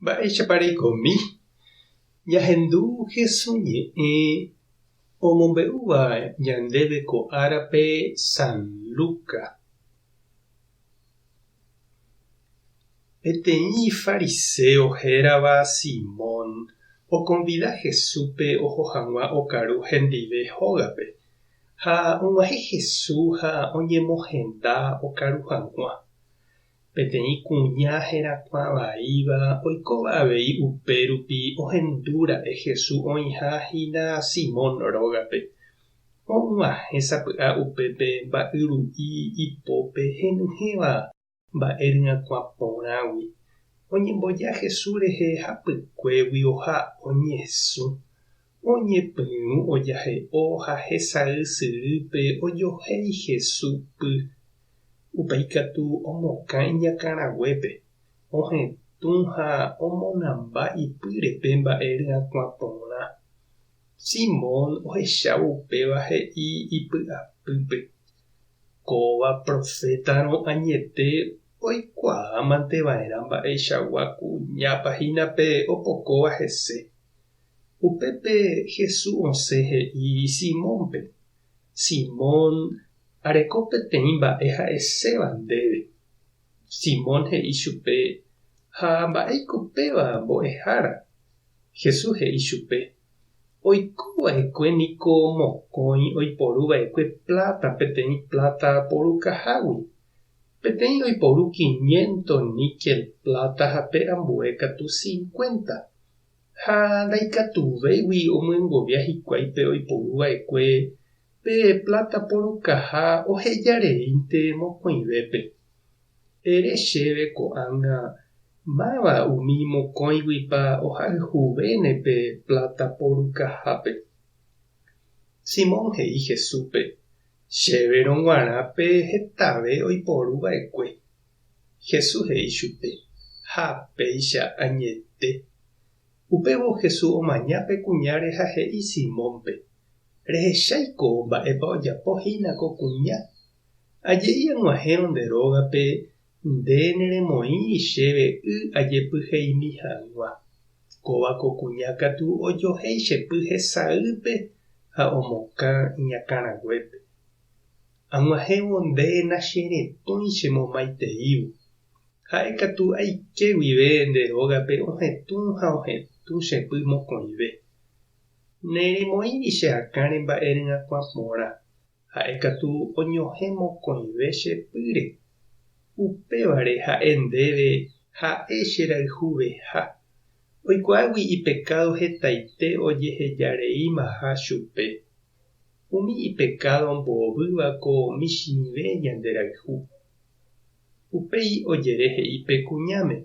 Mba'éichapa reikomi ñahendu Jesús ñe'ẽ omombe'úva ñandéve ko árape San Lucas? Peteĩ fariséo hérava Simón okonvida Jesúspe oho hag̃ua okaru hendive hógape, ha og̃uahẽ Jesús ha oñemohenda okaru hag̃ua. Peteĩ kuña herakuã vaíva oikóva avei upérupi ohendu ra'e Jesús oĩha hína Simón rógape. Oguahẽ sapy'a upépe mba'yru'i ipópe henyhẽva mba'e ryakuã porãgui. Oñemboja Jesús rehe hapykuégui oha oñesũ. Oñepyrũ ojahe'o ha hesay sýpe ojohéi Jesús py. Upéi ikatu omokã iñakãraguépe, ohetũ ha omonamba ipýre pe mba'e ryakuã porã. Simón ohechávo upéva he'i ipy'apýpe, Kóva profétarõ añete oikuaámanteva'erã mba'eichagua kuñápa hína pe opokóva hese. Upépe Jesús osẽ he'i Simónpe, Simón, areko peteĩ mba'e ha'eséva ndéve. Simón he'i chupe, Ha mba'éiko péva mbo'ehára? Jesús he'i chupe, Oiko va'ekue niko mokõi oiporu va'ekue pláta peteĩ pláta porukahágui, peteĩ oiporu kiñénto níkel pláta ha pe ambue katu cincuénta. Ha ndaikatuvéigui omyengovia hikuái pe oiporu va'ekue pe pláta porukaha oheja reínte mokõivépe. Ere chéve ko'ág̃a, Máva umi mokõiguipa ohayhuvéne pe pláta porukahápe? Simón he'i Jesúspe, Chéverõ g̃uarã pe hetave oiporu va'ekue. Jesús he'i chupe, Ha péicha añete. Upévo Jesús omaña pe kuñáre ha he'i Simónpe, Rehechái ko mba'épa ojapo hína ko kuña. Aje'i ag̃uahẽrõ nde rógape nde neremoĩri chéve y ajepyheimi hag̃ua. Kóva ko kuña katu ojohéi che py hesaýpe ha omokã iñakãraguépe. Ag̃uahẽvo nde nacheretõi che momaiteívo. Ha'e katu aike guive nde rógape ohetũ ha ohetũ che py mokõive. Neremoĩri che akã remba'e ryakuã porã, ha'e katu oñohẽ mokõive che pýre. Upévare ha'e ndéve ha'e che rayhuveha. Oikuaágui ipekádo hetaite ojehejareímaha chupe. Umi ipekádo ombohovýva ko michĩve ñanderayhu. Upéi ojere he'i pe kuñáme,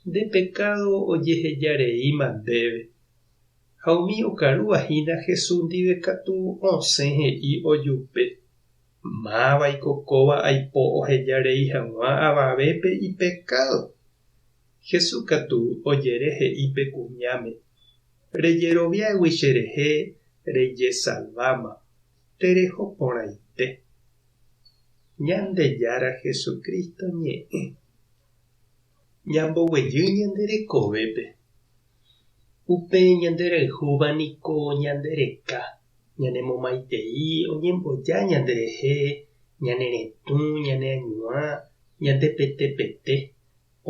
Nde pekádo ojeheja reíma ndéve. Ha umi okarúva hína Jesús ndive katu osẽ he'i ojupe, Mávaiko kóva aipo oheja rei hag̃ua avavépe ipekádo? Jesús katu ojere he'i pe kuñáme, Rejeroviágui cherehe rejesalváma, tereho porãite. Ñandejára Jesucristo ñe'ẽ. Ñamboguejy ñande rekovépe. Upe ñanderayhúva niko ñande reka, ñanemomaitei oñemboja ñande rehe ñane retũ, ñane añuã, ñande pete pete,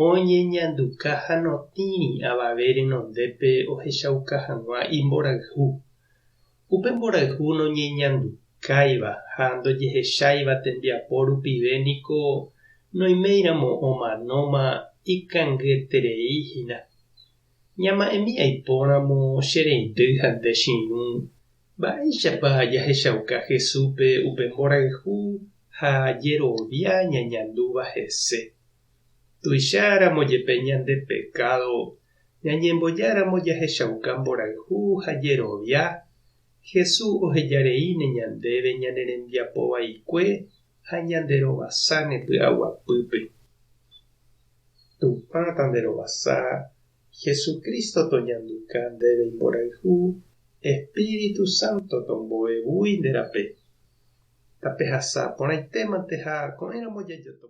Oñeñanduka ha notĩri avave renondépe ohechauka hag̃ua imborayhu. Upe mborayhu noñeñandukáiva ha ndojehecháiva tembiapo rupive niko noiméiramo omanóma ikangyterei hína. Ñama'ẽmi aipóramo che reindy ha nde che irũ, mba'éichapa jahechauka Jesúspe upe mborayhu ha jerovia ñañandúva hese. Tuicharamo jepe ñande pekádo ñañemboja ramo jahechauka mborayhu ha jerovia, Jesús oheja reíne ñandéve ñane rembiapo vaikue ha ñanderovasáne py'aguapýpe. Tupã tanderovasa, Jesucristo toñanduka ndéve imborayhu, Espíritu Santo tomboevúi nde rape. Tapehasa porãitémante ha ko'ẽramo jajotopa.